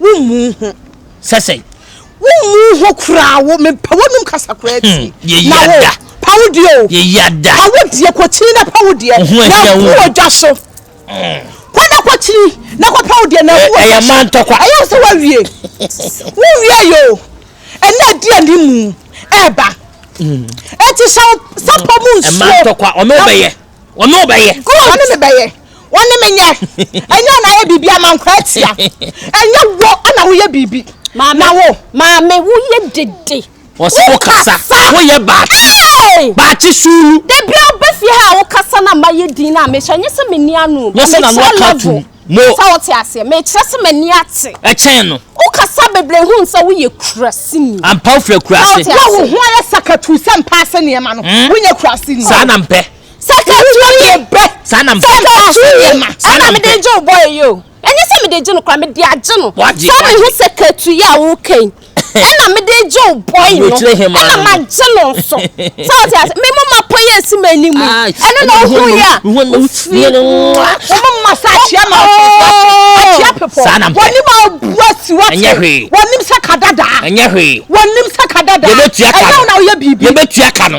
Wo mmu ho. Sɛ sɛn? Wo mmu ho koraa wo me pa wonum kasa koraa ti. Hmm, yɛ yɛ da. Pa wo deɛ o. Yɛ yɛ da. Pa wo deɛ kɔ kyini na pa wo deɛ. Ho ɛhyɛ wo. Na wo dwa so. Hmm. Kɔ na kɔ kyini na kɔ pa wo deɛ na wo dwa so. Ɛyɛ man tɔkwa. Ɛyɛ sɛ wa wie. Wo wie yɛ o. Ɛna di anim mu ɛba. Ɛti sɛ sɛ pɔ mu nsuo. Ɛman tɔkwa ɔmɛ bɛyɛ. Wɔne wo bɛyɛ. Good. Wɔne me bɛyɛ. Wɔne me nyɛ. Ɛnyɛ wɔn ayɛ biribi ama nkwa atia. Ɛnyɛ wo na woyɛ biribi. Maame. Na wo. Maame woyɛ dede. Wɔsɛ wo kasa. Woyɛ baakye. Hey. Baakye suulu. Debia ɔbɛ fie ha a wo kasa na ma yɛ din na mehyɛ. Ɛnyɛ sɛ me ni ano. Wɔsɛ na no ɔka tum. Mo. Sɛ wo te aseɛ, mekyerɛ sɛ m'ani ate. Kyɛn no. Wo kasa bebree ho nsɛ wo yɛ kurasini. Ampa wo firi akurase. Sɛ wo ho ayɛ sakatuu sɛ mpa ase nneɛma no, wo nyɛ kurasini. Saa na mpɛ. Sakatuu yi bɛ. Saa na mpɛ. Sakatuu yi ma. Saa na mpɛ. Ɛna mede gye wo bɔyɛ yi o. Ɛnyɛ sɛ mede gye no kora, mede agye no. Wagye. Saa na ehu sakatuu yi a wo kɛn. ɛna mede gye wo bɔe no ɛna magye no nso sɛ ɔte ase me mama pɔ yɛ asi m'ani mu ɛno na wohu yɛ a wofiri wɔma ma sa akyea ma akyea pepɔ wɔnim a bua si wate wɔnim sɛ ka dadaa wɔnim sɛ ka dadaa ɛyɛ wo na woyɛ biribi yɛbɛtua ka no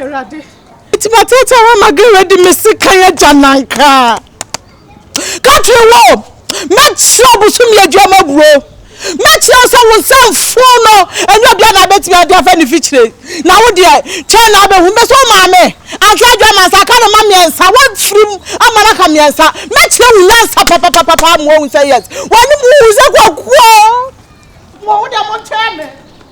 Awurade. Nti matete hɔ ma gere de me sekan agya nan kraa. Ka kyerɛ wɔ mɛkyerɛ ɔbosomi aduama buro. Mɛkyerɛ wo sɛ wo nsa mfuo no ɛnyɛ obia na abɛtumi ade afa ne fikyire. Na wo deɛ kyɛn na abɛhu bɛ sɛ wo maame anka aduama nsa aka no ma mmiɛnsa wafiri mu ama no aka mmiɛnsa. Mɛkyerɛ wo nyansa papapapapa amoa wo sɛ yes. Wɔne mu wo sɛ kwakuo. Mo wo deɛ mo kyerɛ me.